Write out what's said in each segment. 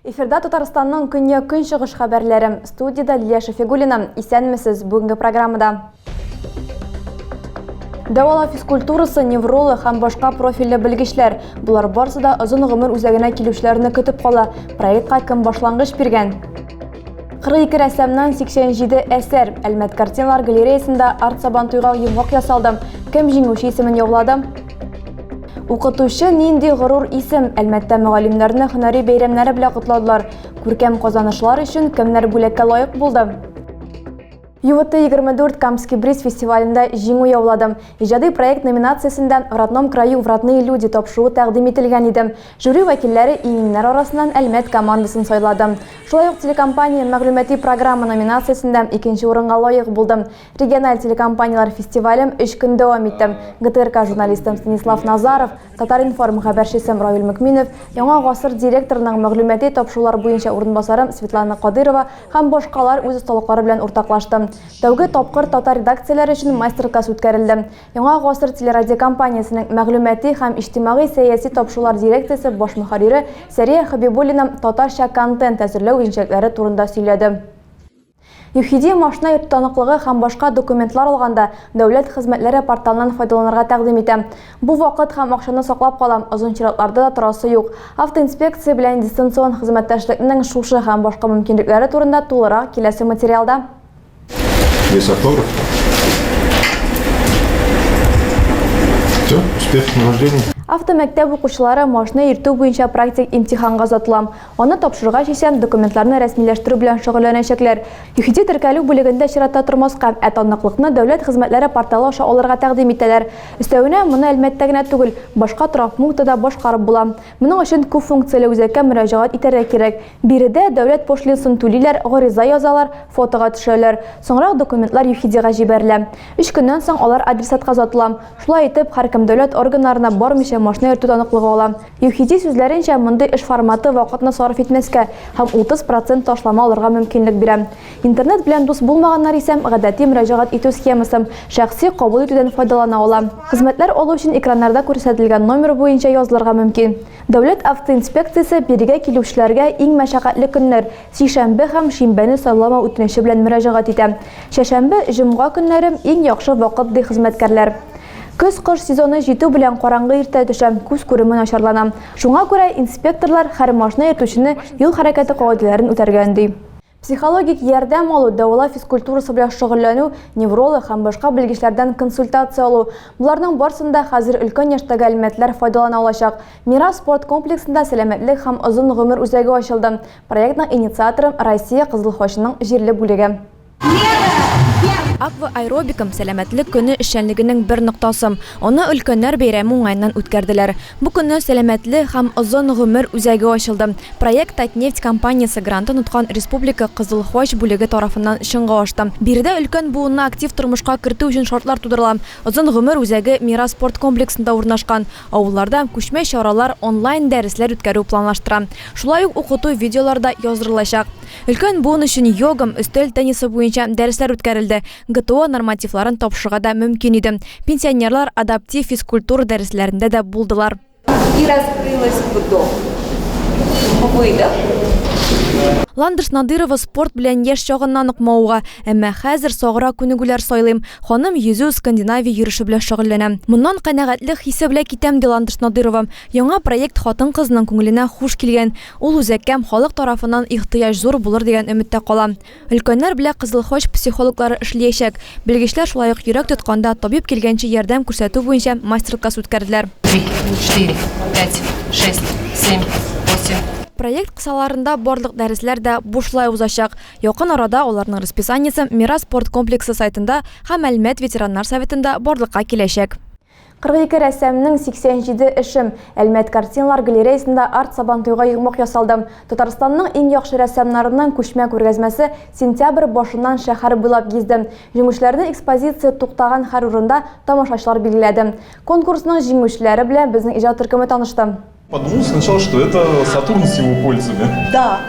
Эфирда Татарстанның көньяк-көнчыгыш хәбәрләре. Студияда Лилия Шафигуллина. Исәнмесез бүгенге программада. Дәвала физкультурасы, невролог һәм башка профильле белгечләр. Болар барсы да озын гомер үзәгенә килүчеләрне көтеп кала. Проектка кем башлангыч биргән? 42 рәссамнан 87 әсәр. Әлмәт картиналар галереясында арт сабан туйга йомгак ясалды. Кем җиңүче исемен яулады? Укытучы нинди горур исем. Әлмәттә мөгаллимнәрне һөнәри бәйрәмнәре белән котладылар. Күркәм казанышлар өчен кемнәр бүләккә лаек булды? ЮВТ-24 Камский бриз фестивалендә җиңү яуладым. Иҗади проект номинациясендә В родном краю в родные люди тапшыруы тәкъдим ителгән иде. Жюри вәкилләре иңеңнәр арасыннан Әлмәт командасын сайлады. Шулай ук телекомпания Мәгълүмати программа номинациясендә икенче урынга лаек булдым. Региональ телекомпанияләр фестивалем өч көн дәвам итте. ГТРК журналисты Станислав Назаров, Татар-информ хәбәрчесем Равил Мөкминов, Яңа гасыр директорының мәгълүмати тапшырулар буенча урынбасарым Светлана Кадырова һәм башкалар үз осталыклары белән уртаклашты. Тәүге тапкыр татар редакцияләре өчен мастер-класс үткәрелде. Яңа гасыр телерадиокомпаниясенең мәгълүмати һәм иҗтимагый-сәяси тапшырулар дирекциясе баш мөхәррире Сәрия Хәбибуллина татарча контент әзерләү үзенчәлекләре турында сөйләде. ЮХИДИ машина йөртү таныклыгы һәм башка документлар алганда дәүләт хезмәтләре порталыннан файдаланырга тәкъдим итә. Бу вакыт һәм акчаны саклап кала, озын чиратларда да торасы юк. Автоинспекция белән дистанцион хезмәттәшлекнең шушы һәм башка мөмкинлекләре турында тулырак киләсе материалда. Весокор. Все, успешных вождений. Автомәктәп укучылары машина йөртү буенча практик имтиханга озатыла. Аны тапшырырга чишәм, документларны рәсмиләштерү белән шөгыльләнәчәкләр. ЮХИДИ теркәлү бүлегендә чиратта тормаска, ә таныклыкны Дәүләт хезмәтләре порталы аша алырга тәкъдим итәләр. Өстәвенә, моны Әлмәттә генә түгел, башка торак пунктта да башкарып була. Моның өчен күпфункцияле үзәккә мөрәҗәгать итәргә кирәк. Биредә дәүләт пошлинсын түлиләр, гариза язалар, фотога төшәләр. Соңрак документлар ЮХИДИга җибәрелә. Өч көннән соң алар адресатка озатыла. Шулай итеп, һәркем дәүләт органнарына бармыйча машина йөртү таныклыгы ала. ЮХИДИ сүзләренчә, мондый эш форматы вакытны сарыф итмәскә һәм 30 процент ташлама алырга мөмкинлек бирә. Интернет белән дус булмаганнар исә гадәти мөрәҗәгать итү схемасы, шәхси кабул итүдән файдалана ала. Хезмәтләр алу өчен экраннарда күрсәтелгән номер буенча язылырга мөмкин. Дәүләт автоинспекциясе бирегә килүчеләргә иң мәшәкатьле көннәр, Сишәмбе һәм шимбәне сайламау үтенече белән мөрәҗәгать итә. Чәшәмбе, җомга көннәре, иң яхшы вакыт, ди хезмәткәрләр. Көз-кыш сезоны җитү белән караңгы иртә төшә, күз күреме начарлана. Шуңа күрә инспекторлар һәр машина йөртүчене юл хәрәкәте кагыйдәләрен үтәргә өнди. Психологик ярдәм алу, дәвалау физкультурасы белән шөгыльләнү, невролог һәм башка белгечләрдән консультация алу, боларның барсында хәзер өлкән яшьтәге әлмәтләр файдалана алачак. Мирас спорт комплексында сәламәтлек һәм озын гомер үзәге ачылды. Проектның инициаторы, Россия Кызыл Хочының җирле бүлеге. Аква аэробикам, сәламәтлек көне эшчәнлегенең бер ноктасы. Аны өлкәннәр бәйрәме уңаеннан үткәрделәр. Бу көнне сәламәтле һәм озын гомер үзәге ачылды. Проект Татнефть компаниясе грантын откан республика Кызыл Хоч бүлеге тарафыннан чынга ашты. Биредә өлкән буынны актив тормышка кертү өчен шартлар тудырыла. Озын гомер үзәге Мирас спорт комплексында урнашкан. Авылларда күчмә чаралар, онлайн дәресләр үткәрү планлаштыра. Шулай ук укыту видеолары да яздырылачак. Өлкән буын өчен йогам, өстәл теннисы буенча дәресләр үткәрелде, ГТО нормативларын тапшырырга да мөмкин иде. Пенсионерлар адаптив физкультура дәресләрендә дә булдылар. И раскрылось ГТО в выдох. Ландыш Надырова спорт белән яшь чагыннан ук мавыга. Әмма хәзер саграк күнегүләр сайлыйм. Ханым йөзү, Скандинавия йөреше белән шөгыльләнә. Моннан канәгатьлек хисе белән китәм, ди Ландыш Надыйрова. Яңа проект хатын-кызның күңеленә хуш килгән. Ул үзәккә халык тарафыннан ихтыяҗ зур булыр дигән өметтә кала. Өлкәннәр белән Кызыл Хач психологлары эшлиячәк. Белгечләр шулай ук йөрәк тотканда табиб килгәнче ярдәм күрсәтү буенча мастер-класс үткәрделәр. Три, четыре, пять, шесть, семь, восемь. Проект кысаларында барлык дәресләр дә бушлай узачак. Якын арада аларның расписаниесе Мирас спорт комплексы сайтында һәм Әлмәт ветераннар советында барлыкка киләчәк. 42 рәссамның 87 эшем Әлмәт картиналар галереясында арт-Сабантуйга йомгак ясалды. Татарстанның иң яхшы рәссамнарының күчмә күргәзмәсе сентябрь башыннан шәһәр буйлап гизде. Җиңүчеләрне экспозиция туктаган һәр урында тамашачылар билгеләде. Конкурсның җиңүчеләре белән безнең иҗат төркеме танышты. Подумал сначала, что это Сатурн с его кольцами. Да.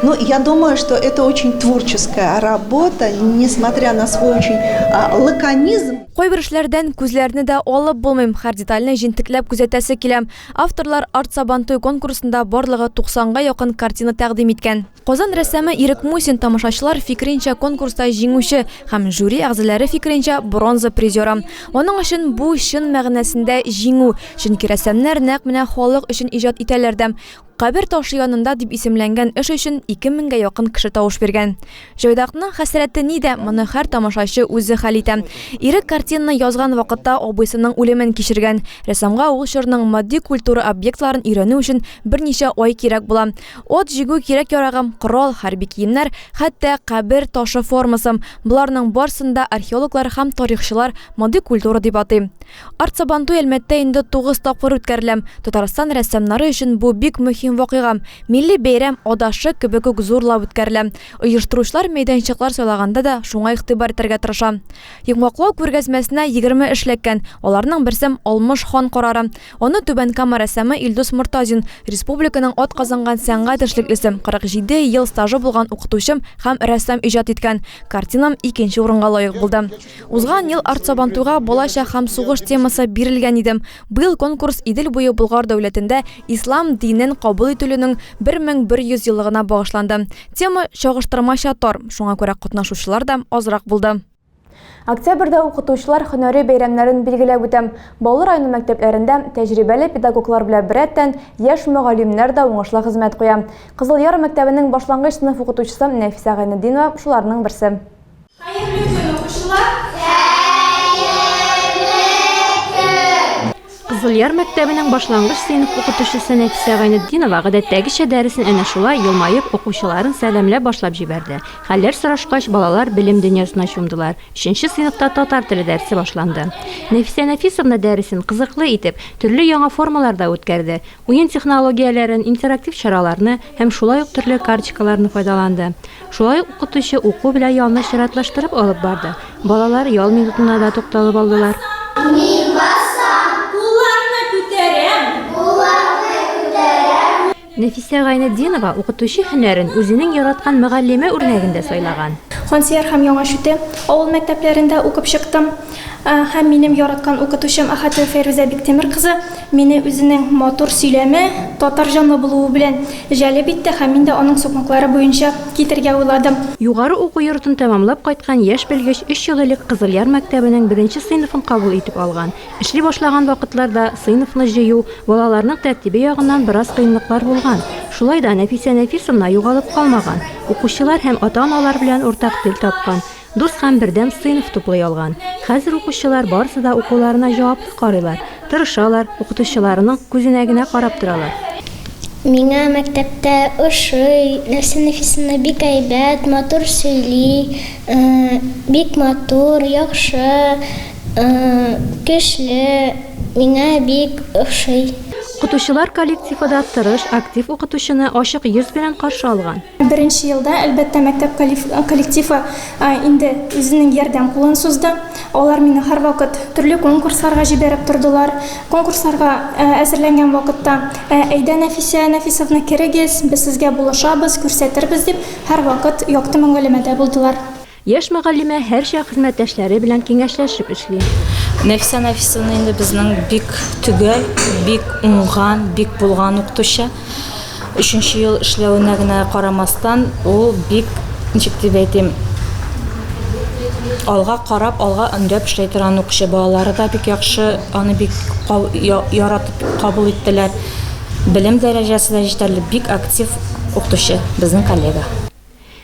Но я думаю, что это очень творческая работа, несмотря на свой очень а, лаконизм. Кайбер эшләрдән күзләрне дә алып булмыйм, һәр детальне җентекләп күзәтәсе килә. Авторлар арт сабантуй конкурсында барлыгы 90 га якын картина тәкъдим иткән. Казан рәссамы Ирек Мусин тамашачылар фикеренчә конкурста җиңүче һәм жюри әгъзаләре фикеренчә бронза призеры. Аның өчен бу чын мәгънәсендә җиңү, чөнки рәссамнар нәкъ менә халык өчен иҗат итәләр дә. Кабер ташы янында дип исемләнгән эш өчен ике меңгә якын кеше тавыш биргән. Җайдакның хәсрәте нидә, моны һәр тамашачы үзе хәл итә. Ирек картинаны язган вакытта абыйсының үлемен кичергән. Рәссамга ул чорның матди культура объектларын өйрәнү өчен берничә ай кирәк була. От җигү кирәк-ярагым, корал, хәрби киемнәр, хәтта кабер ташы формасым, боларның барсын да археологлар һәм тарихчылар мондый культура дип атый. Арт-Сабантуй Әлмәттә инде тугыз тапкыр үткәрелә. Татарстан рәссамнары өчен бу бик мөһим вакыйга. Милли бәйрәм адашшык кебек үк зурлап үткәрелә. Оештыручылар мәйданчыклар сайлаганда да шуңа игътибар итәргә тырыша. Йомгаклау күргәзмәсенә егерме эш эләккән, аларның берсем Алмыш хан карары. Аны Түбән Кама рәссамы Илдус Мортазин, республиканың атказанган сәнгать эшлеклесе, 47 ел стажы булган укытучым һәм рәссам иҗат иткән картинам икенче урынга лаек булды. Узган ел Арт-Сабантуйга балачак һәм сугыш темасы бирелгән иде. Быел конкурс Идел буе Болгар дәүләтендә ислам динен кабул ителүнең 1100 еллыгына багышланды. Тема чагыштырмача тар, шуңа күрә катнашучылар да азрак булды. Октябрьдә укытучылар һөнәри бәйрәмнәрен билгеләп үтәм. Баулы районы мәктәпләрендә тәҗрибәле педагоглар белән беррәттән, яшь мөгаллимнәр дә уңышлы хезмәт куя. Кызыл Яр мәктәбенең башлангыч сыйныф укытучысы Нәфисә Гайнетдинова шуларның берсе. Хәерле көн, укучылар! Хәерле көн! Кызылъяр мәктәбенең башлангыч сыйныф укытучысы Нәфисә Гайнетдинова гадәттәгечә дәресен әнә шулай елмаеп, укучыларын сәламләп башлап җибәрде. Хәлләр сорашкач, балалар белем дөньясына чумдылар. Өченче сыйныфта татар теле дәресе башланды. Нәфисә Нәфисовна дәресен кызыклы итеп, төрле яңа формаларда үткәрде. Уен технологияләрен, интерактив чараларны һәм шулай ук төрле карточкаларны файдаланды. Шулай ук укытучы уку белән ялны чиратлаштырып алып барды. Балалар ял минутына да тукталып алдылар. Мин басам. Кулларны күтәрәм. Кулларны күтәрәм. Нәфисә Гайнетдинова укытучы һөнәрен үзенең яраткан мөгаллиме үрнәгендә сайлаган. Хансияр һәм Яңа Чүте авыл мәктәпләрендә укып чыктым. Һәм минем яраткан укытучым Ахатова Фәйрүзә Биктимер кызы мине үзенең матур сөйләме, татар җанлы булуы белән җәлеп итте һәм мин дә аның сукмаклары буенча китәргә уйладым. Югары уку йортын тәмамлап кайткан яшь белгеч өч ел элек Кызылъяр мәктәбенең беренче сыйныфын кабул итеп алган. Эшли башлаган вакытларда сыйныфны җыю, балаларның тәртибе ягыннан бераз кыенлыклар булган. Шулай да Нәфисә Нәфисовна югалып калмаган, укучылар һәм ата-аналар белән уртак тел тапкан. Дус һәм бердәм сыйныф туплый алган. Хәзер укучылар барысы да укуларына җаваплы карыйлар, тырышалар, укытучыларының күзенә генә карап торалар. Миңа мәктәптә ошый, Нәрсә Нәфисовна бик әйбәт, матур сөйли, бик матур, яхшы, көчле, миңа бик ошый. Укытучылар коллективы да тырыш, актив укытучыны ачык йөз белән каршы алган. Беренче елда, әлбәттә, мәктәп коллективы инде үзенең ярдәм кулын сузды. Алар мине һәрвакыт төрле конкурсларга җибәреп тордылар. Конкурсларга әзерләнгән вакытта, Әйдә, Нәфисә Нәфисовна, керегез, без сезгә булышабыз, күрсәтербез, дип һәрвакыт якты мөгаләмәдә булдылар. Яшь мөгаллимә һәрчак хезмәттәшләре белән киңәшләшеп эшли. Нәфисә Нәфисовна инде безнең бик төгәл, бик уңган, бик булган укытучы. Өченче ел эшләвенә генә карамастан, ул бик, ничек дип әйтим, алга карап, алга өндәп эшләй торган укучы. Балалары да бик яхшы, аны бик яратып кабул иттеләр. Белем дәрәҗәсе дә җитәрлек, бик актив укытучы безнең коллега.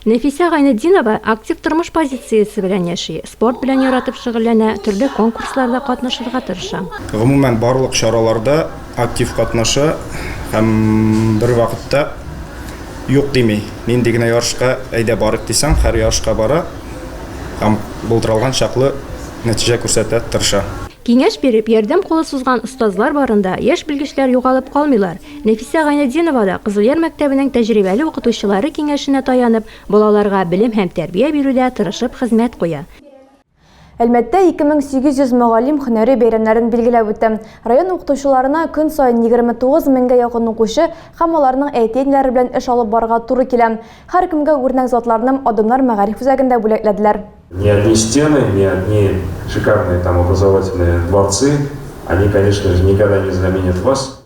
Нәфисә Гайнетдинова актив тормыш позициясе белән яши, спорт белән яратып шөгыльләнә, төрле конкурсларда катнашырга тырыша. Гомумән, барлык чараларда актив катнаша һәм бервакытта юк дими. Нинди генә ярышка әйдә барыйк дисәң, һәр ярышка бара һәм булдыралган чаклы нәтиҗә күрсәтә тырыша. Киңәш биреп, ярдәм кулы сузган остазлар барында яшь белгечләр югалып калмыйлар, Нәфисә Гайнетдинова да, Кызылъяр мәктәбенең тәҗрибәле укытучылары киңәшенә таянып, балаларга белем һәм тәрбия бирүдә тырышып хезмәт куя. Әлмәттә 2800 мөгаллим һөнәри бәйрәмнәрен билгеләп үтә. Район укытучыларына көн саен 29 меңгә якын укучы һәм аларның әти-әниләре белән эш алып барырга туры килә. Һәркемгә үрнәк затларным Адымнар мәгариф үзәгендә бүләкләделәр. Не одни стены, не одни шикарные там образовательные дворцы, они, конечно же, никогда не заменят вас.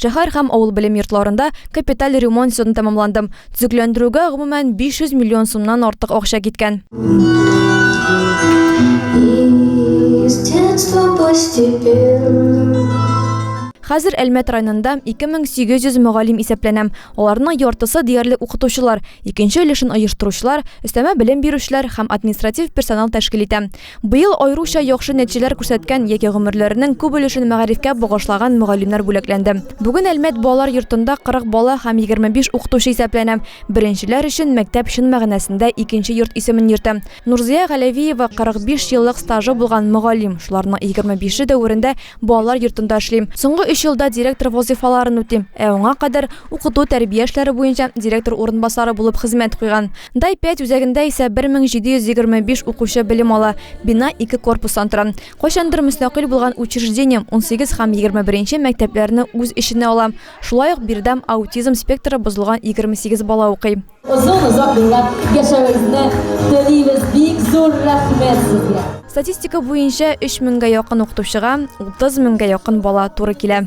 Шәһәр һәм авыл белем йортларында капиталь ремонт счетын тәмамландым. Төзекләндерүгә, гомумән, 500 миллион сумнан артык акча киткән. Хәзер Әлмәт районында 2800 мөгаллим исәпләнәм. Аларның яртысы диярлек укытучылар, икенче өлешен оештыручылар, өстәмә белем бирүчеләр һәм административ персонал тәшкил итәм. Быел аеруча яхшы нәтиҗәләр күрсәткән яки гомерләренең күп өлешен мәгарифкә багышлаган мөгаллимнәр бүләкләнде. Бүген Әлмәт балалар йортында 40 бала һәм 25 укытучы исәпләнә. Беренчеләр өчен мәктәп чын мәгънәсендә икенче йорт исемен йөртә. Нурзыя Галәвиева, 45 еллык стажы булган мөгаллим, шуларның 25-е дәверендә балалар йортында эшли. Соңгы өч елда директор вазыйфаларын үти, ә аңа кадәр укыту-тәрбия эшләре буенча директор урынбасары булып хезмәт куйган. Дай 5 үзәгендә исә 1725 укучы белем ала. Бина ике корпустан тора. Кайчандыр мөстәкыйль булган учреждение 18 һәм 21 нче мәктәпләрне үз эченә ала. Шулай ук биредә аутизм спектры бозылган 28 бала укый. Озын-озак гомерләр яшәвегезне телибез, бик зур рәхмәт сезгә! Статистика буенча, 3000 гә якын укытучыга 30 меңгә якын бала туры килә.